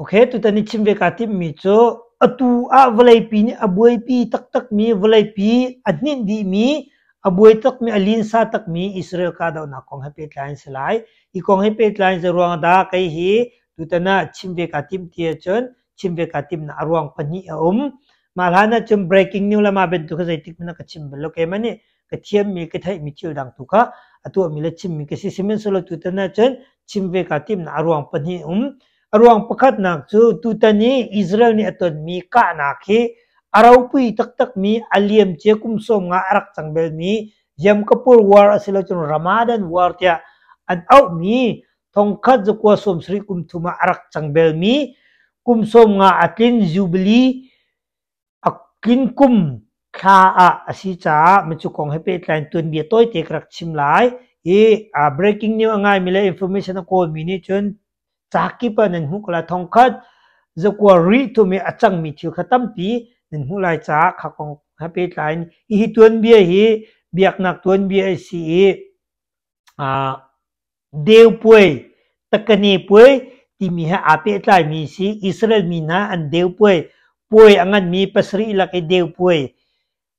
Okay, tutan i chim ve kaa timmi cu atu ah vawleipi nih a buaipi taktakmi, vawleipi a hninh dihmi, a buai takmi, a linsa takmi Israel kahdohnak kong he pehtlai an si lai. Hi kong he pehtlai in zeiruang dah kei hi tutan ah chim ve kaa tim ti ahcun chim ve kaa timnak a ruang pahnih a um. Mah hlan ahcun breaking news le mah bantuk hi zeitik hmanh ah ka chim bal lo. Kei hmanh nih ka thiammi ka theihmi thil dang tu kha a tuahmi le chimmi ka si sihmanhsehlaw tutan ah cun chim ve kaa timnak a ruang pahnih um a ruang pakhatnak cu tutan i Israel nih a tonmi kahnak hi a ropui taktakmi a liam cia kum sawm nga a rak cang belmi Yom Kippur War a si lo cun Ramadan War tiah an auhmi thongkhat zakua sawm sarih kum thum ah a rak cang belmi kum sawm nga a tlin Jubilee A kinkum thla ah a si caah micu kong he pehtlai in tuanbia tawite ka rak chim lai. Hi uh, breaking news a ngaimi le information a kawlmi nih cun ca kip ah nan hmuh ko lai thong khat zakua rih thum i a cangmi thil kha tampi nan hmuh lai caah kha kong he pehtlai in hihi tuanbia hi biaknak tuanbia a si i Deu puai, takane puai timi he aa pehtlaimi a si. Israel mi hna an deu puai, puai a nganmi pasarih lak i deu puai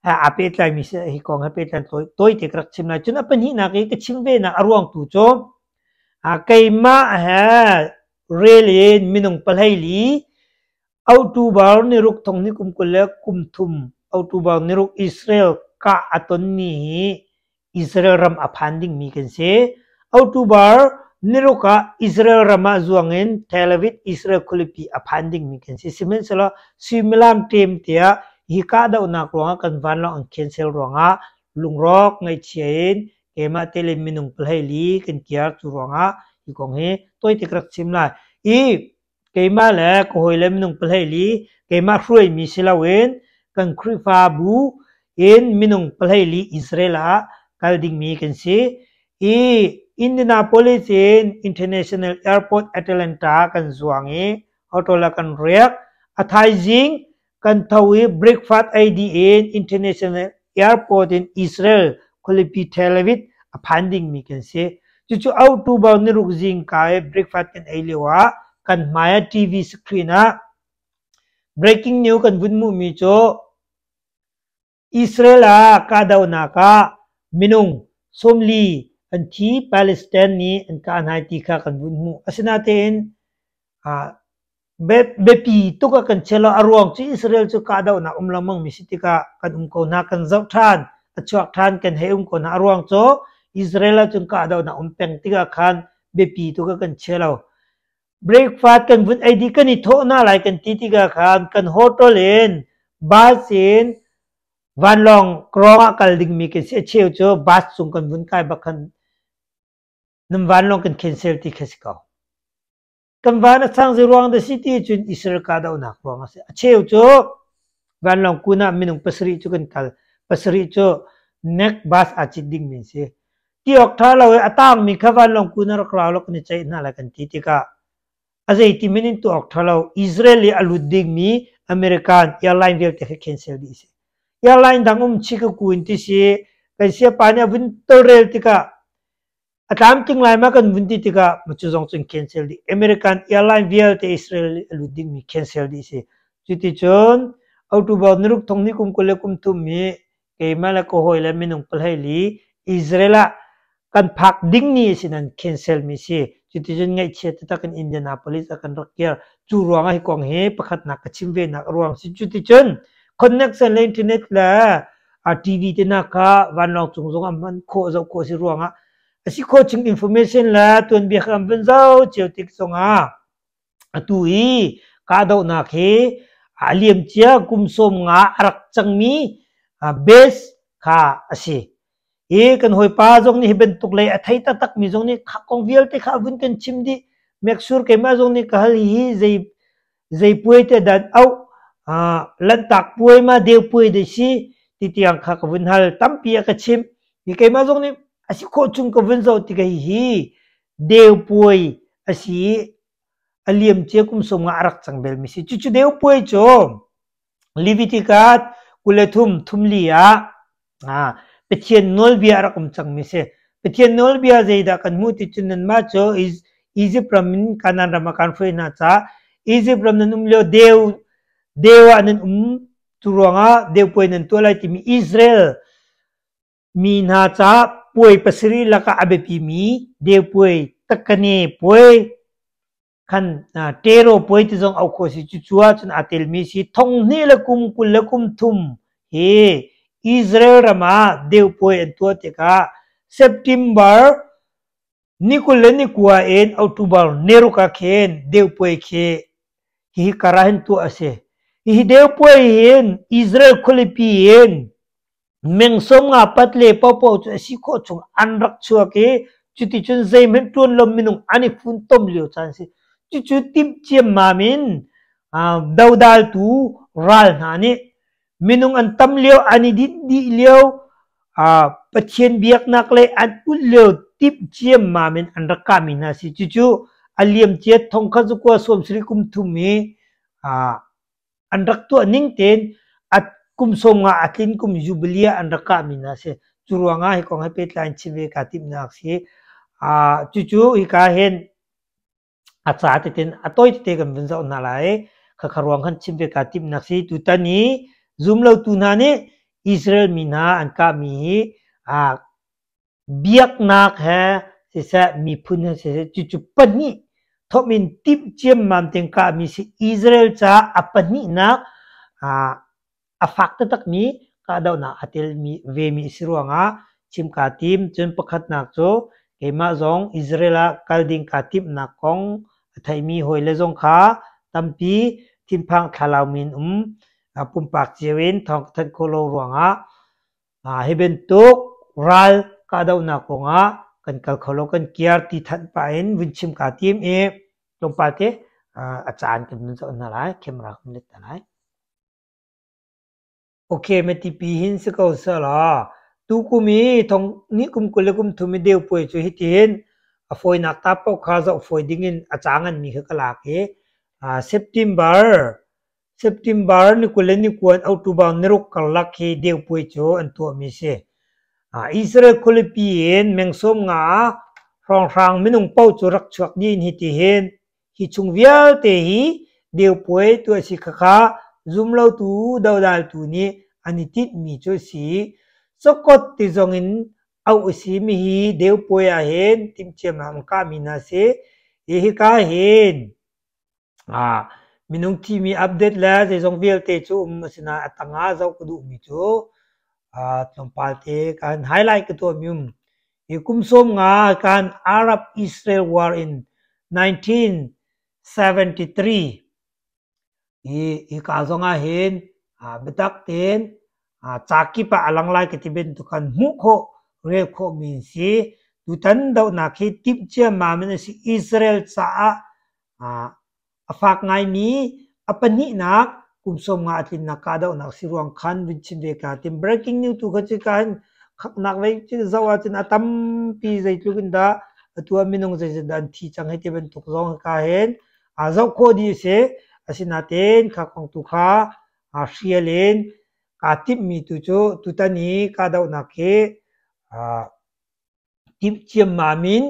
he aa pehtlaimi a si. Hi kong he pehtlai tawite ka rak chim lai. Cun a pahnihnak i ka chim venak a ruangtu cu keimah he rel in minung pahleili Autu bal niruk thong ni kum kul le kum thum autu bal niruk Israel kah a tonmi hi Israel ram a phan dingmi kan si. Autu bal niruk ah Israel ram ah zuang in Tel Aviv Israel khulipi a phan dingmi kan si. Sihmanhsehlaw suimilam tem tiah hi kahdohnak ruangah kan vanlawng an cancel ruangah lungrawk ngaihchia in keimah te le minung pelhei li kan kiar cu ruangah hi kong hi toitik rak chim lai. I Keimah le ka hawile minung pahleili keimah hruaimi si loin kan Khrihfabu in minung pahleili Israel ah kal dingmi kan si. I Indianapolis in International Airport Atlanta kan zuang i auto la kan riak. A thaizing kan tho i breakfast ei dih in international airport in Israel khualipi Tel Aviv a phan dingmi kan si cucu October niruk zingka i breakfast kan ei lio ah kan hmai ah TV screen ah breaking news kan vun hmuhmi cu Israel ah kahdohnak ah minung sawmli an thi, Palestine nih an kah hna ti kha kan vun hmuh. Asinatein biapi tuk a kan chel a ruang cu Israel cu kahdohnak um lengmang mi si tikah kan um ko hna, kan zoh ṭhan, a chuak ṭhan, kan hei um ko hna. A ruang cu Israel ahcun kahdohnak um peng tikah khan biapi tuk a kan chel lo. Breakfast kan vun ei dih kan i thawh hna lai kan ti tikah khan kan hotel in bus in vanlawng krawng ah kal dingmi kan si a cheu cu bus cung kan vun kai bak khan nan vanlawng kan cancel ti kha si ko. Kan van a sang zei ruang dah si ti cun Israel kahdohnak ruang a si. A cheu cu vanlawng kun ah minung pasarih cu kan kal. Pasarih cu next bus aa cit dingmi si. Ṭiawk ṭha lo i a taangmi kha vanlawng kun ah rak rau law kan i ceih hna lai kan ti tikah a zeiti men in tuak ṭha lo Israel i a lut dingmi American airline vialte kha cancel dih a si. Airline dang um Chicago in ti si kan siapa nih a vun tolrel tikah a tlam tling lai ma kan vun ti tikah ma cu zong cun cancel dih American airline vialte Israel i a lut dingmi cancel dih a si. Cuticun October niruk thong ni kum kul le kum thum i keimah le ka hawi le minung pahleili Israel ah kan phak ding ni si nan cancel mi si cuticun ngaihchia taktak in Indianapolis ah kan rak kir cu ruang ah hi kong hi pakhatnak ka chim ve nak a ruang si cuticun connection le internet le a TV te na ka vanlawng cung zong am man khawh zo khawh si ruang ah asi khawh chung information le tuanbia kha am van zau cio tik zong ah Atu i kahdohnak hi a liamcia kum sawm nga a rak cangmi base kha a si. I kan hawipa zong nih hi bantuk lei a thei taktakmi zong nih kong vialte kha a vun kan chim dih. Meksur keimah zong nih ka hal hi zei zei puai te dan au lantak puai ma deu puai dei si ti tiang kha ka vun hal tampi a ka chimh. Hi keimah zong nih a si khawh chung ka vun zoh tikah hi Deupuai a si i a liamcia kum sawm nga a rak cang belmi si. Cucu Deupuai cu Leviticus kul le thum thumli ah Pathian nawlbia a rak um cangmi si. Pathian nawlbia zeidah kan hmuh ti cun nanmah cu Izipt ram in Kanaan ram ah kaan hruai hna caah Izipt ram nan um lio deu deu ah nan um cu ruangah deupuai nan tuah lai timi Israel Mi hna ca puai pasarih lakah a biapimi Deupuai, Takane puai, khan Tero puai ti zong auh khawh a si. Cucu ahcun aa telmi a si. Thong hnih le kum kul le kum thum hi Israel ram ah Deupuai an tuah tikah September Nikul le nikua in October neruk ah khin Deupuai khi hihi kara hin tuah a si. Hihi Deupuai hin Israel khualipi in mengsawm nga pat le popo cu a si khawh chung an rak chuak i cuticun zeihmanh tuan lo minung an i funtom lio caan si. Cucu timh ciammam in dodaltu ral hna nih minung an tam lio an i dinh dih lio uh, Pathian biaknak le an ulh lio timh ciam mam in an rak kami hna si cucu a liam cia thong kha zu kwa suam sri kum thum i uh, an rak tuah ning ten at kum som nga atlin kum jubilia an rak kami na se cu ruanga hi kong hai petlai chime ka tim nak si a uh, cucu hi ka hen A ca tein a tawi tete kan vun zoh hna lai. Khakha ruang khan chim ve kaa timhnak si. Tutan i zum lotu hna nih Israel mi hna an kahmi hi aa biaknak he siseh miphun he siseh cucu pahnih thawm in timh ciammam tein kahmi si. Israel caah a pahnihnak aa a fak taktakmi kahdohnak a telmi vemi a si ruangah chim kaa tim. Cun pakhatnak cu keimah zong Israel ah kal ding kaa timhnak kong a theimi hawile zong kha tampi thinphang thlalau men um ah, pumpak cio in thawng ka thanh khawh lo ruangah ah, hi bantuk ral kahdohnak kongah kan kal kho lo kan kiar ti thanh pah in vun chim kaa tim i tlawmpal te ah, a caan kan vun zoh hna lai khem ra kan let hna lai. Okemetipi hin si ko sehla, tukum i kum kul le kum thum i deupuai cu hitihin a fawinak ta paoh kha zoh fawi dingin a ca nganmi kha ka lak i September, September ni kul le ni kua in October ni ruk karlak hi deupuai cu an tuahmi si. Israel khualipi in meng sawm nga ah hrawnghrang minung paoh cu rak chuak dih in hitihin Hi chung vialte hi Deupuai tu a si khakha zumlotu dodaltu nih an i tinhmi cu a si. Sokot ti zongin auh a simi hi Deupuai ah hin timhciam ah an kahmi hna a si. Hi hika hin aa minung thimi update le zeizong vialte cu um a si nain a tangah zoh ka duhmi cu tlawmpal te kan highlight ka tuahmi um. Hi kum sawm nga kan Arab-Israel War in 1973 hi hi ka zong ah hin aa biatak tein aa ca kip ah a lang lai ka ti bantuk khan hmuh khawh rel khawh mi an si. Tutan dohnak hi timh ciammam in a si. Israel caah aa A fak ngaimi a pahnihnak kum sawm nga a tlinnak kahdohnak si ruang khan vun chim ve ka tim. Breaking news tu kha cu ka khaknak vei cu zoh ahcun a tampi zeitluk in dah atu ah minung zeizetin dah an thi cang hei ti bantuk zong hi ka hen aa zoh khawh dih a si. Asinain kha kong tu kha aa hrial in kaa timhmi tu cu tutan i kahdohnak hi aa timhciam ma min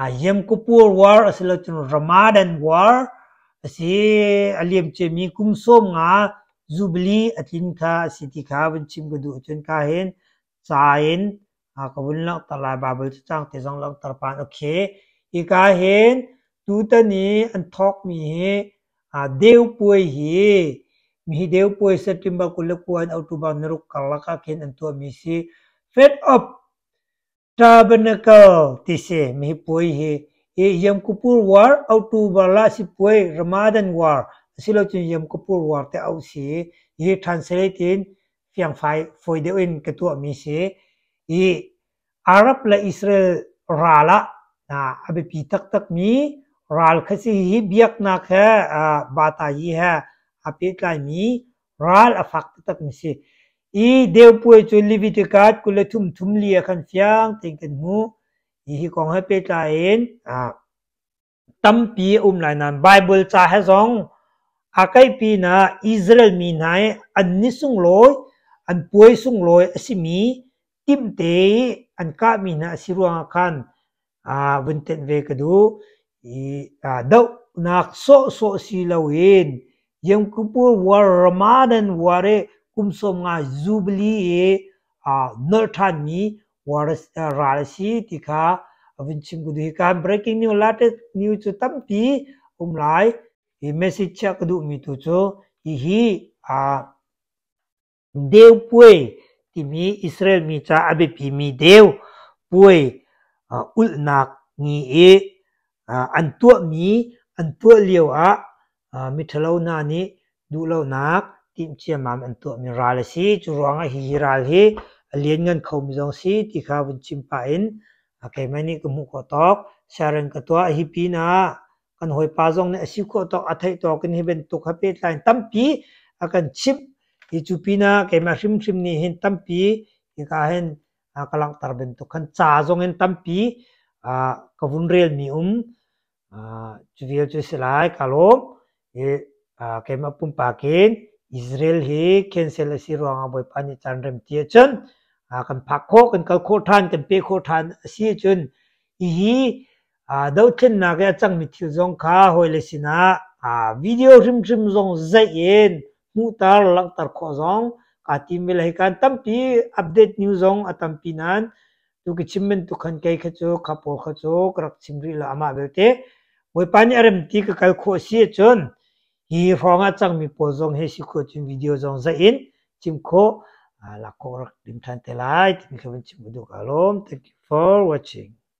Yemkupur War asilo cun Ramadan War asi aliam ciami kum sawm nga Jubilee atlin kha asi ti kha vun chim ka duh cun ka hin ca in ka vun langhter lai Bible cu cang te zong langhter pan okay hi ka hin tutan i an thawkmi hi Deu Puai hi mihi Deu Puai September kul le kuan October naruk karlak ah khin an tuahmi si Fed of Tabernacle ti si mi puai hi hi Yamkupur War, October la sipuai Ramadan War asilocun Yamkupur War te auh si hi translate in fiangfai fawi deuh in ka tuah mi si. Hi Arab le Israel ral ah a biapi taktak mi ral kha si hi biaknak he bata yi he aa pehtlai mi Ral a fak taktakmi si. I Deupuai cu Leviticus kul le thum thum li ah khan fiang tein kan hmu. Hi hi kong he pehtlai in ah, tampi a um lai nain Baibal ca he zong aa kaih pinah Israel mi hna i an ni sunglawi, an puai sunglawi a simi Timte an kahmi hna a si ruangah khan aa vun tenh ve ka duh. I aa dohnak sawhsawh si loin Yom Kippur war Ramadan war i kum sawm nga Jubilee i aa nolh ṭhanmi war a si- aa ral a si ti kha a vun chim ka duh. Hi kaan breaking news latest news cu tampi a um lai. Hi message chiah ka duhmi tu cu hihi aa Deu puai timi Israel mi ca a biapimi deu puai ulhnak ni i an tuahmi an tuah lioah miṭhalo hna nih duhlonak timhciammam an tuahmi ral a si. Cu ruangah hihi ral hi a lianngan khomi zong a si ti kha vun chim pah in keimah nih ka hmuh khawh tawk. Siaren ka tuah hi pinah kan hawipa zong nih a si khawh tawk a theih tawk in hi bantuk ha pehtlai in tampi a kan chimh hi cu pinah keimah hrimhrim nih hin tampi hika hin ka langhter bantuk khan ca zong in tampi ka vun relmi um cu vial cu si lai ka lawm hi keimah pumpak in Israel hi cancel a si ruangah Bawipa nih caan remti ahcun kan phak khawh kan kal khawh ṭhan kan pe khawh ṭhan a si ahcun hihi dothlennak i a cangmi thil zong kha hawile sinah video hrimhrim zong zeih in hmuhter langhter khawh zong kaa tim mi le hi kan tampi update news zong a tampi nan tu ki chim men tu khan kei kha cu kha pawl kha cu ka rak chim rih la amah belte bawipa nih a rem ti ka kal khawh si cun hi hrawng ah cangmi pawl zong he si khawh cun video zong zeih in chim khawh lak khawh rak dim than te lai timi kha vun chim duk alom thank you for watching